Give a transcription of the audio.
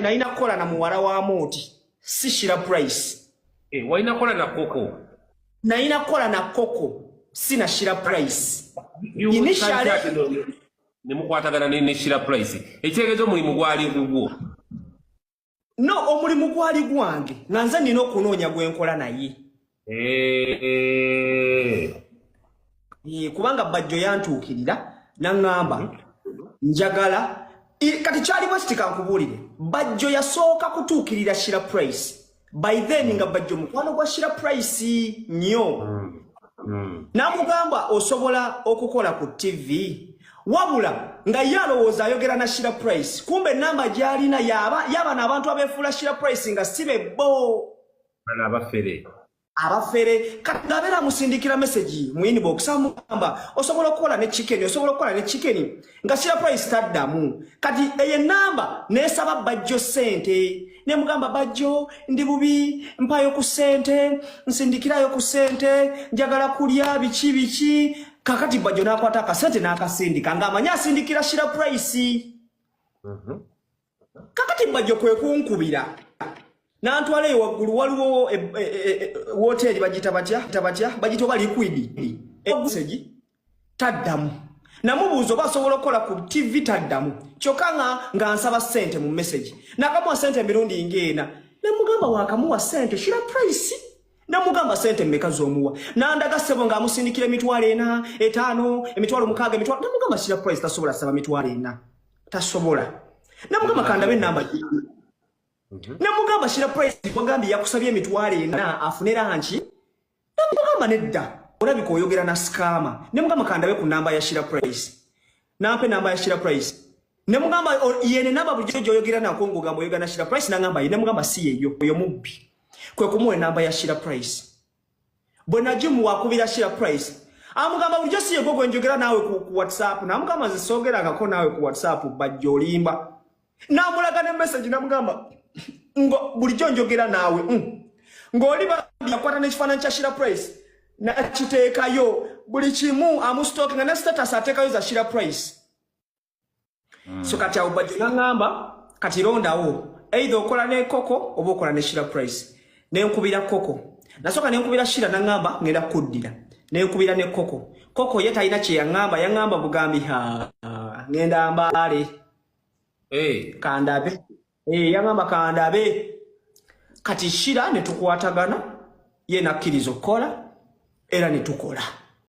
nalina kukola na muwala wa mooti si shira price eh, walina kukola na koko nalina kukola na koko si na shira price nemukwatagana ne shira price ekitegeeza omulimu gwali gugwo no omulimu gwali gwange nga nze nina okunoonya gwenkola naye kubanga bajjo yantuukirira naŋŋamba njagala kati kyali bwe sitika nkubuulire bajjo yasooka kutuukirira shira price by then nga bajjo mukwano gwa shira price nnyo mm. mm. namugamba osobola okukola ku tv wabula nga ye alowooza ayogera na shira price kumbe enamba gyalina yaba yabana abantu abefuula shira price nga si bebbo bano abafere abafere kati ngabeera musindikira message mu inbox amugamba osobola okukola ne chicken osobola okukola ne chicken nga sira price taddamu kati eye namba nesaba bajjo sente ne mugamba bajjo ndi bubi mpayo ku sente nsindikirayo ku sente njagala kulya biki biki kakati bajjo nakwata akasente n'akasindika ng'amanyi asindikira sira price mm -hmm. kakati mbajjo kwe kunkubira nantwala eyo waggulu waliwo e, e, e, woteeri bagita batya tabatya bagita oba likwidi egusegi taddamu namubuuza oba asobola okukola ku tv taddamu kyokka nga nga nsaba sente mu mesegi nakamuwa sente emirundi ngaena namugamba wakamuwa sente shira price namugamba sente mmeka zomuwa nandaga ssebo ng'amusindikira emitwalo ena etaano emitwalo mukaaga emitwalo namugamba shira price tasobola saba mitwalo ena tasobola namugamba kandabe enamba mhm. namugamba shira price wagambye yakusabye emitwalo ena afune lanki namugamba nedda olabika oyogera na skama nemugamba kandabe ku namba ya shira price nampa enamba ya shira price nemugamba yene namba bulijjo gyoyogera nako ngogamba oyogera na shira price nangamba ye nemugamba si yeyo oyo mubbi kwe kumuwa enamba ya shira price bwe najimu wakubira share price amugamba bulijjo si yegwo gwe njogera naawe ku, ku whatsapp namugamba nze soogerangako naawe ku whatsapp bajja olimba namulaga ne message namugamba ngo bulijjo njogera naawe mm. ng'oli bambi yakwata n'ekifaananyi kya shira price nakiteekayo buli kimu amustoke nga ne status ateekayo za shira price mm. so kati awo bajjo nangamba kati londawo either okola ne koko oba okola ne shira price ne nkubira koko nasoka ne nkubira shira nangamba ngenda kuddira ne nkubira ne koko koko ye talina kye yangamba yangamba bugambi ha ngenda mbale eh kandabe eh yangamba kandabe kati shira ne tukwatagana ye nakirizo kola era ne tukola